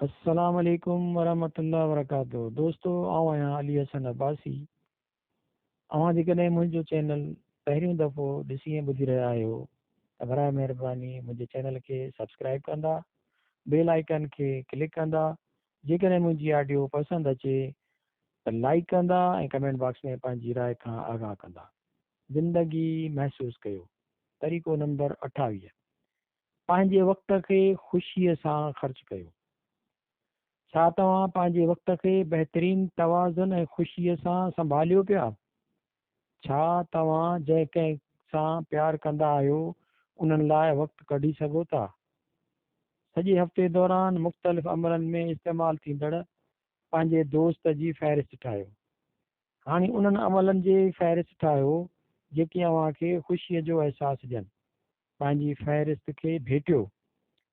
السلام عليڪم ورحمة الله وبرڪاته دوستو آئون آهيان علي حسن عباسي اوهان جيڪڏهن منهنجو چينل پهريون دفعو ڏسي ۽ ٻڌي رهيا آهيو ته براء مهرباني منهنجي چينل کي سبسڪرائب ڪندا بيل آئيڪن کي ڪلڪ ڪندا جيڪڏهن منهنجي آڊيو پسند اچي ته لائيڪ ڪندا ۽ ڪمينٽ باڪس ۾ پنهنجي راء کان آگاهه ڪندا زندگي محسوس ڪيو طريقو نمبر اٺاويهه پنهنجي وقت کي خوشيء سان خرچ ڪيو. ڇا توهان پنهنجي وقت کي بهترين توازن ۽ خوشيء سان سنڀاليو پيا؟ ڇا توهان جنهن ڪنهن سان پيار ڪندا آهيو، انهن لاء وقت ڪڍي سگهو ٿا؟ سڄي هفتي دوران مختلف عملن ۾ استعمال ٿيندڙ پنهنجي دوست جي فهرست ٺاهيو. هاڻي انهن عملن جي فهرست ٺاهيو جيڪي اوهان کي خوشيء جو احساس ڏين. پنهنجي فهرست کي ڀيٽيو.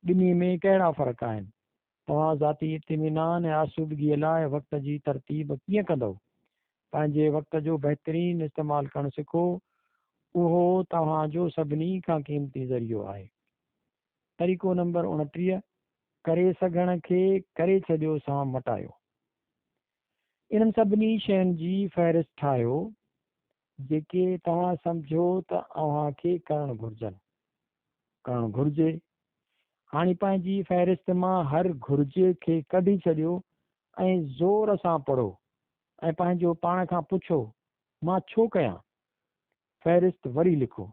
ٻنهي ۾ ڪهڙا فرق آهن؟ توهان ذاتي اطمينان ۽ آسودگيء لاء وقت جي ترتيب ڪيئن ڪندؤ؟ پنهنجي وقت جو بهترين استعمال ڪرڻ سکو. اهو توهان جو سڀني کان قيمتي ذريعو آهي. طريقو نمبر اڻٽيهه، ڪري سگهڻ کي ڪري ڇڏيو سان مٽايو. انهن سڀني شين جي فهرست ٺاهيو جيڪي توهان سمجهو ته اوهان کي ڪرڻ گهرجن، ڪرڻ گهرجي. هاڻي پنهنجي فهرست مان هر گهرجي کي ڪڍي ڇڏيو ۽ زور سان پڙهو ۽ پنهنجو پاڻ کان پڇو مان ڇو ڪيان؟ فهرست وري لکو.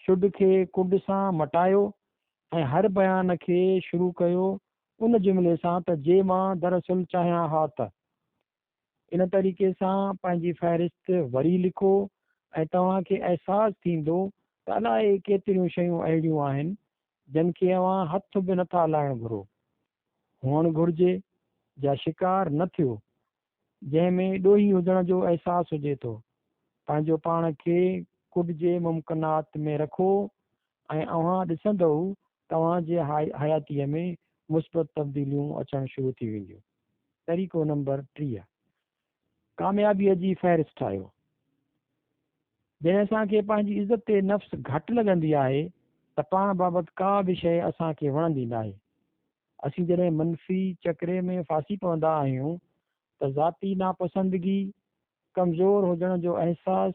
شڊ کي ڪنڊ سان مٽايو ۽ هر بيان کي شروع ڪيو ان جملي سان ته جي مان دراصل چاهيان ها ته. ان طريقي سان پنهنجي فهرست وري لکو ۽ توهان کي احساس ٿيندو ته الائي ڪيتريون شيون اهڙيون آهن جن کي اوهان هٿ به نٿا لائڻ گهرو. هئڻ گهرجي جا شڪار نه ٿيو جنهن ۾ ڏوهي هجڻ جو احساس هجي ٿو. پنهنجو پاڻ کي ڪڊ جي ممڪنات ۾ رکو ۽ اوهان ڏسندئو ته اوهان جي حياتيء ۾ مثبت تبديليون اچڻ شروع ٿي وينديون. طريقو نمبر ٽيهه ڪاميابيء جي فهرست ٺاهيو. جڏهن اسان کي پنهنجي عزت نفس گهٽ لڳندي آهي ته پاڻ بابت ڪا به شيء اسان کي وڻندي ناهي. اسين جڏهن منفي چڪري ۾ ڦاسي پوندا آهيون ته ذاتي ناپسندگي، ڪمزور هجڻ جو احساس،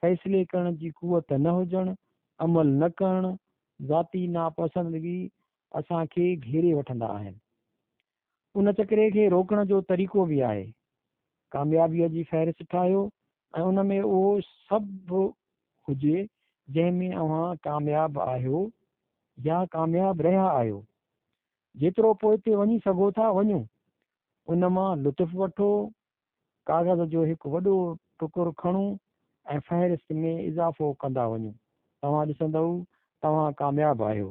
فيصلي ڪرڻ جي قوت نه هجڻ، عمل نه ڪرڻ، ذاتي ناپسندگي اسان کي گهيري وٺندا آهن. ان چڪري کي روڪڻ جو طريقو به آهي. ڪاميابيء جي فهرست ٺاهيو ۽ ان ۾ اهو سڀ هجي جنهن ۾ اوهان ڪامياب آهيو يا ڪامياب رهيا آهيو. جيترو پوئتي وڃي سگهو ٿا وڃو. ان مان لطف وٺو. ڪاغذ جو هڪ وڏو ٽڪر کڻو ۽ فهرست ۾ اضافو ڪندا وڃو. توهان ڏسندؤ توهان ڪامياب آهيو.